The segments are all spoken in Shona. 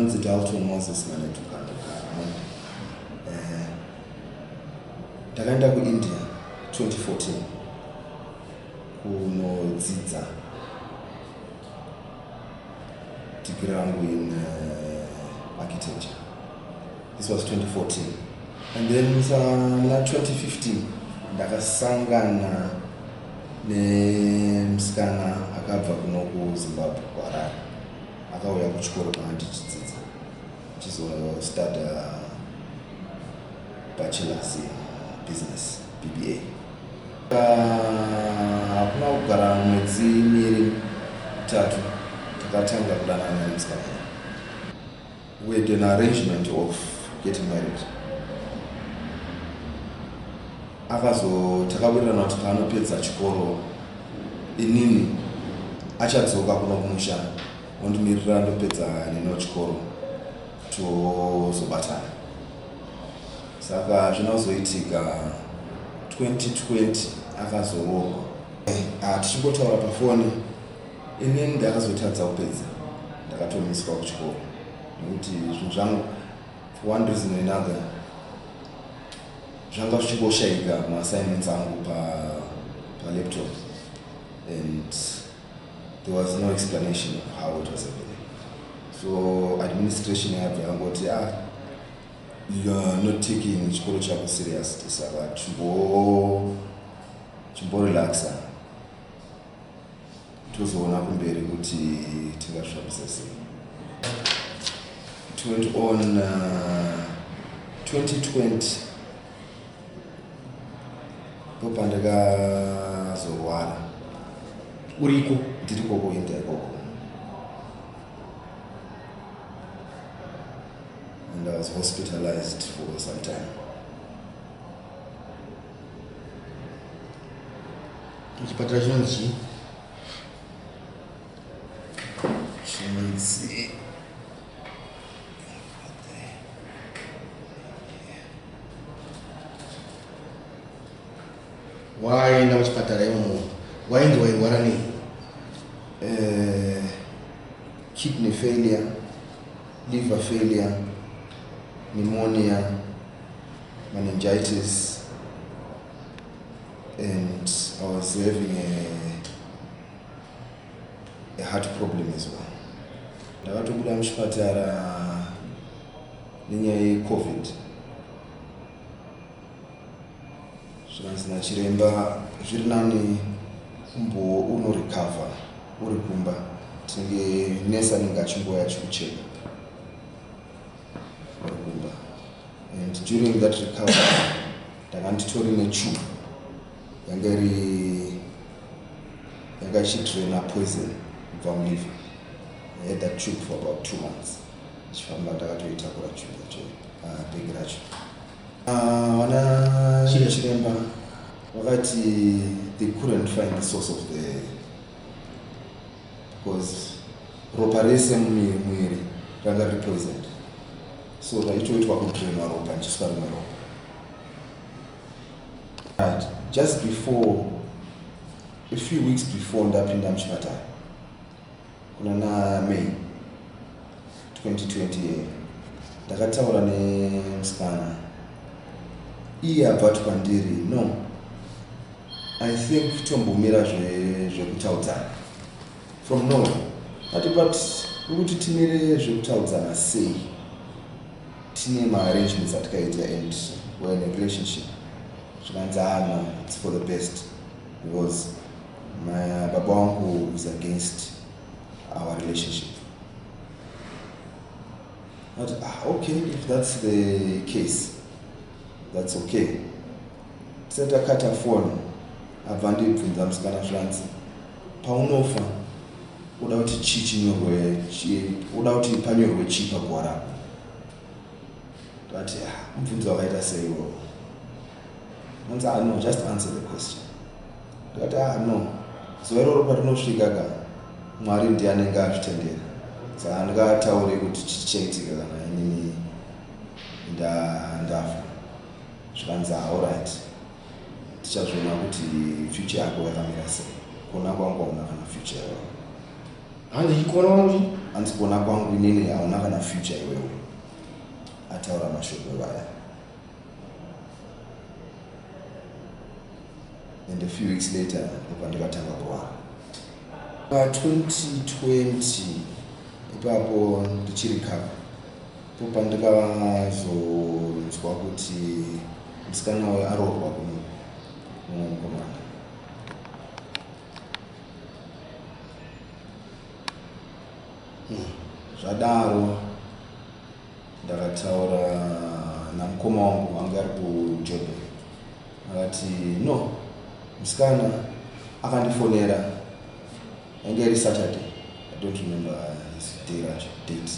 Anzi Dalton Moses Manetuka eh, Ndakaenda ku India 2014 kunodzidza degree rangu in uh, architecture. This was 2014. And then in uh, 2015 ndakasangana nemusikana akabva kuno kuzimbabwe kuharare akauya kuchikoro kana tichidzidza chizostata bachelors business bba hakuna uh, kugara mwedzi miri mitatu takatanga kudanana nemusikana We had an arrangement of getting married. Akazo takawirirana kuti paanopedza chikoro inini achadzoka kuno kumusha ondimirira ndopedza nino chikoro tozobatana. Saka zvina kuzoitika 2020 akazoroorwa. Eh, ah, tichingotaura pafoni Ini ndakazotadza kupedza ndakatomiswa kuchikoro nekuti zvinhu zvangu for one reason or another zvanga zvichingoshaika maassignments angu palaptop pa and there was no explanation of how it was happening so administration yabva yangoti ah youare not taking chikoro chako serious saka chimbo chimborelaxa tozoona kumberi kuti tingazvishandisa sei it went on uh, 2020 ndopandakazorwara uriko ndiri koko inda ikoko and i was hospitalized for some time Chipatara chinonzi chii? Chinonzi waenda kuchipatara imomo wainzi wairwara nei eh, kidney failure liver failure pneumonia meningitis and I was having a, a heart problem as well ndakatobuda muchipatara nenyaya yecovid zvikanzi nachiremba zviri nani umbo unorecover uri kumba tinenge nesa anenge achingouya achikucheka Kumba. And during that recovery, ndanga nditori nechubu yanga iri yanga ichidraina poison kubva muliver. I had that tube for about two months. Chifamba ndakatoitakura tube yacho, uh, bag racho. Uh, wana chiremba vakati they couldn't find the source of the because ropa rese mumuviri ranga riri poison so raitoitwa kudrainwa ropa ndichiiswa rimwe ropa but just before a few weeks before ndapinda muchipatara kuna namay 2020 iyoyo ndakataura nemusikana iye abva ati kwandiri no i think tombomira zvekutaudzana from no ati but ukuti timire zvekutaudzana sei tine maarrangements atikaita and were in a relationship zvikanzi ana ah, its for the best because my baba wangu is against our relationship But, ah, okay, if that's the case, that's okay. Tisati akata foni abva ndibvunza musikana zvanzi paunofa uda kuti chii chinyorwe uda kuti panyorwe chii paguwa rako ndati ah, mubvunzo wakaita seiwo anzi ano ah, just answer the question ndikati ah no zuva iroro patinosvika ka mwari ndiye anenge azvitendera saka ndikataure kuti chichaitika kana inini ndafa zvikanzi aorit ah, tichazviona kuti future yako yakamira sei kuona kwangu auna kana future yao hanzi kuona kwangu hanzi kuona kwangu inini auna kana future iwewe ataura mashoko vaya and a few weeks later ndopandikatanga kurwara pa 2020 ipapo ndichiri kava popandikazonzwa kuti musikana wayo aroorwa kuno mumwe mukomana hmm, zvadaro Ndakataura namukoma wangu anga ari kuJordan akati no musikana akandifonera ainge iri Saturday I don't remember his day racho date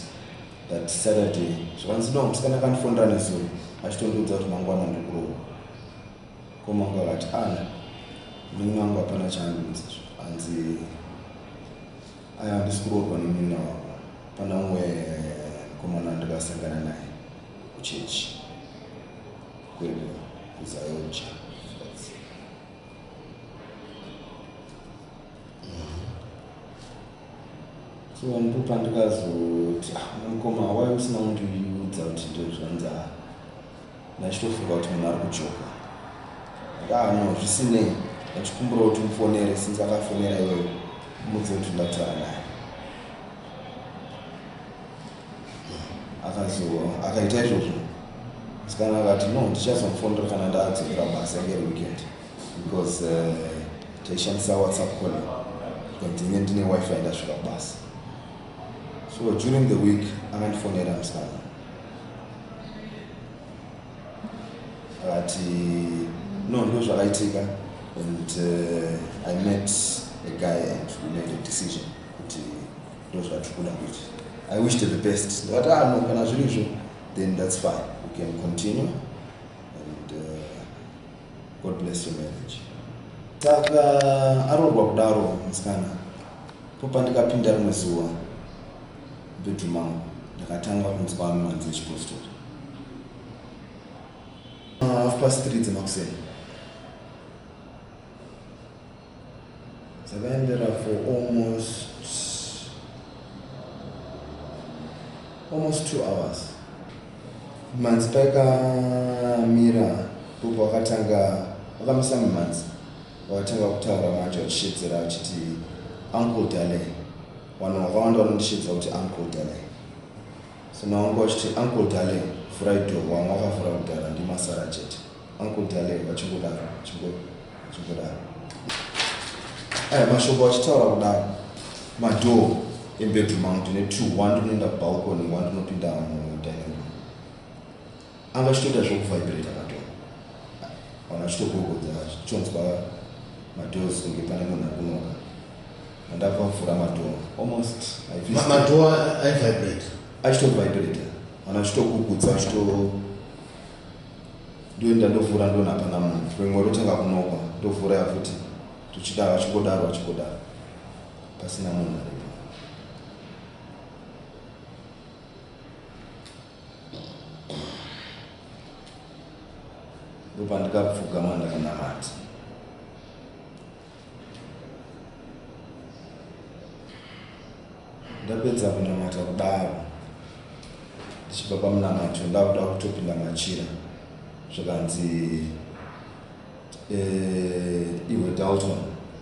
that Saturday zvakanzi no musikana akandifonera nezuro achitondiudza kuti mangwana ndikurohwa mukoma wangu akati ana ah, munin'ina wangu hapana chaandiudza hanzi Aya handisi kuroorwa nemunin'ina wako pana umwe mukomana wandakasangana naye kuchechi kwedu kuzayonja so ndipo pandikazoti ah mukoma wai usina kundiudza kuti ndozvanzaa ndachitofunga kuti munhu ari kujoka ndaa no zvisinei ndachikumbira kuti mufonere since akafonera iweyo umudze kuti ndakutaura naye akazo akaita izvozvo musikana akati no ndichazomufonera kana ndaadzokera basa ngeri weekend because uh, taishandisa whatsapp call ndine ndine wifi ndasvika kubasa so during the week akandifonera musikana but no no zvakaitika and uh, i met a guy and we made a decision kuti ndo zvatiri kuda kuita i wish to the best ndikati ah no kana zviri izvo then that's fine we can continue and uh, god bless your marriage saka aroorwa kudaro musikana Ndipo pandikapinda rimwe zuva mubedroom mangu ndakatanga kunzwa mhanzi yechipositori half past three dzemakuseni dzakaendera for almost almost two hours mhanzi paikamira popo wakatanga wakamisa mumhanzi Watanga kutaura manje uchishedzera uchiti uncle Dale. Vanhu vakawanda vanondishedzera kuti uncle Dale. So now wanga uchiti uncle Dale vhura idoor vamwe vakavhura kudhara ndimasara chete. Uncle Dale vachingodaro chingodaro. Aya mashoko vachitaura kudaro madoor embedroom angu ndine two one rinoenda kubalcony one rinopinda mu dining room. anga achitoita zvokuvibrata madhoo vanhu vachitogogodza zvichonzwa madoors kunge pane munhu ari kunoka andabva kuvhura madhoo almost madhoo aivibrate achitovibrata vanhu vachitogugudza vachito ndoenda ndovhura ndona hapana munhu rimwe rotanga kunokwa ndovhura yafuti tuchidaro achingodaro achingodaro pasina munhu aripo ndopandikapfugama ndakanamata ndapedza kunamata kudaro ndichibva pamunamato ndakuda kutopinda machira zvikanzi eh, iwe dalton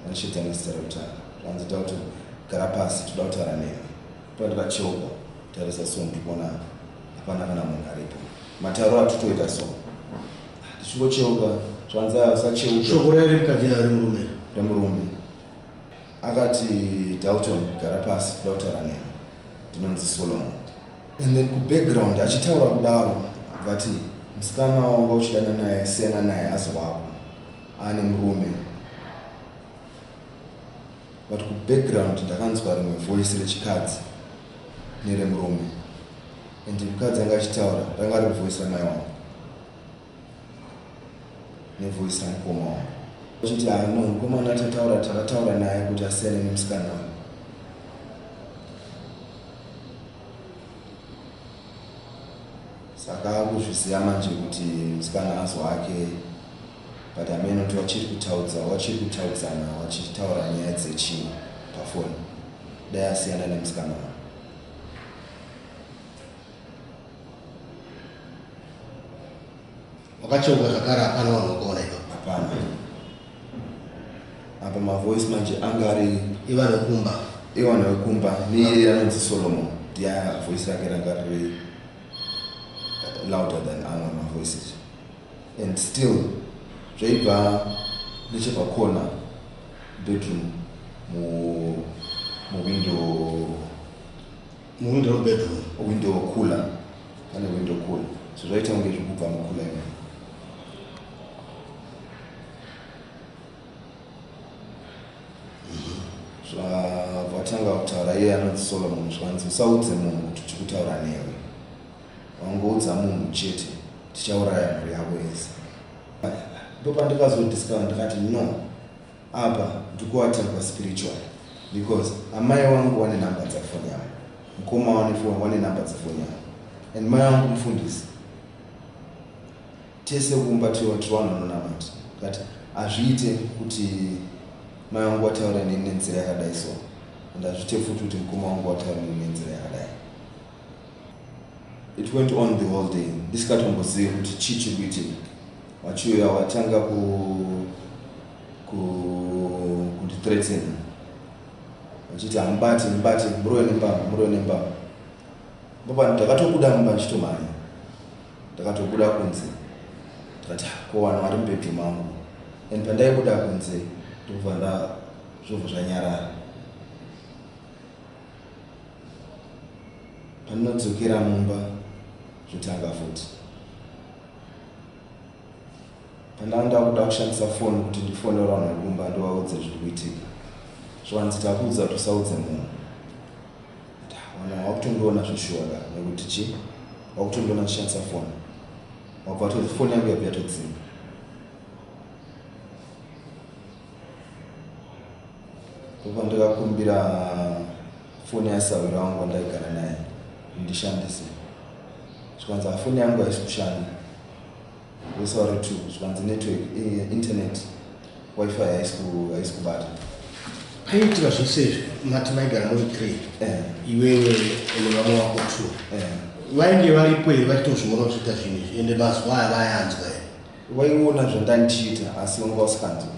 anishedzana zita rekutanga zvikanzi dalton gara pasi toda kutaura nemi Pati pachoka tarisa song tibona hapana kana munhu aripo mataro atutoita song tichingocheuka zvanza usacheuka shoko rere mukadzi ari murume remurume akati dalton gara pasi kuda kutaura neni ndinonzi solomon and then kubackground achitaura kudaro vati musikana wanga uchidana naye siyana naye azi wako ane murume but kubackground ndakanzwa rimwe voice rechikadzi neremurume and mukadzi anga achitaura ranga riri voice ramai wangu nevoice ramukoma wangu achiti ah no mukomana achataura takataura naye kuti asiyane nemusikana wangu saka akuzviziva manje kuti musikana azo wake but hameno kuti wachiri kutaudza wachiri kutaudzana wachitaura nyaya dzechii pafoni dai asiyana nemusikana uyu wakacheuka zvakare hapana vanhu vakaona iva hapana apa mavoice manje anga ari ivana wekumba ivana wekumba neiye anonzi solomon ndiye voice rake ranga riri eh, louder than amwe mavoices and still zvaibva nechepakona bedroom mu muwindow muwindow bedroom window cooler pane window cooler so zvaita kunge zvekubva mukula imene zvatanga kutaura iye anoti solomon zvanzi usaudze munhu kuti tiri kutaura newe wangoudza munhu chete tichauraya mhuri yako yese ndopandikazodiscover ndikati no apa ndikuatakwa spiritual because amai wangu wane number dzafoni yavo mukoma wanefoni wane number dzafoni yavo and mai wangu mufundisi tese kumba tiwatiwanhu anonamati kati hazviite kuti mai wangu wataura neni nenzira yakadai so and hazviite futi kuti mukoma wangu wataura neni nenzira yakadai It went on the whole day ndisikatombozive kuti chii chiri kuitika vachiuya vatanga kundithreaten vachiti hamubati mubati murove nembama murove nembama baba ndakatobuda mumba ndichitomhanya ndakatobuda kunze ndikati ko vanhu vari mubedroom angu and pandaibuda kunze ndokubva nda zvobva zvanyarara Pandinodzokera mumba zvotanga futi. Pandanga ndakuda kushandisa foni kuti ndifonera vanhu vekumba ndovaudze zviri kuitika. Zviwanzi takuudza kuti usaudze munhu. Wana wakutondiona zveshuwa ka nekuti chi wakutondiona ndishandisa foni. Wabva toti foni yangu yabva yatodzima. Koko ndakakumbira foni yasahwira wangu wandaigara naye ndishandise zvikanzi hafoni yangu haisi kushanda wesauri two zvikanzi network eh, internet wifi haisi kubata paiitika zvose izvi mati maigara muri three eh. iwewe ene vamwe wako two eh. vainge varipo here vachitozviona kuchiita zvinhu izvi ende mazuva aya vayanzwa here vaiona zvandandichiita asi vanga vasikanzwa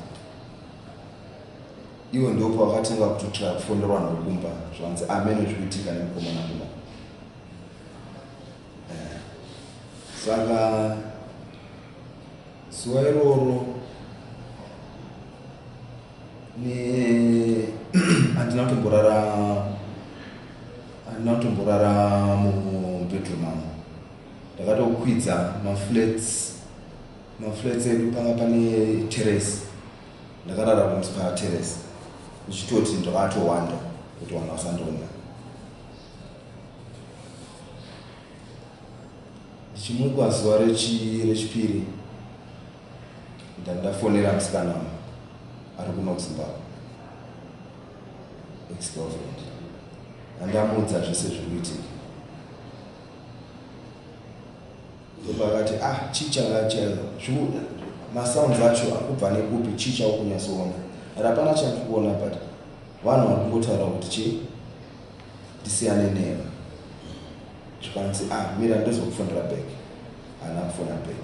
Iwe ndopa wakatanga kutotya kufonerwa nokumba zvanzi ameno zvikuitika nemukomana kuda eh, saka zuva iroro handina kutomborara handina kutomborara mubedroom angu ndakatokwidza maflats maflats edu panga pane terrace Ndakarara kuMspire Terrace ndichitoti ndakatowanda kuti vanhu vasandiona. Ndichimuka zuva rechipiri ndandafonera musikana ari kuno kuZimbabwe ex-girlfriend andamuudza zvese zviri kuitika Ndobva vati ah chicha nga chaiva zviuda ma sounds acho akubva nekupi chicha ukunyasoona but hapana chandikuona but vanhu vari kungotaura kuti chi ndisiyane neva zvikanzi ah mira ndozokufonera back haana kufona back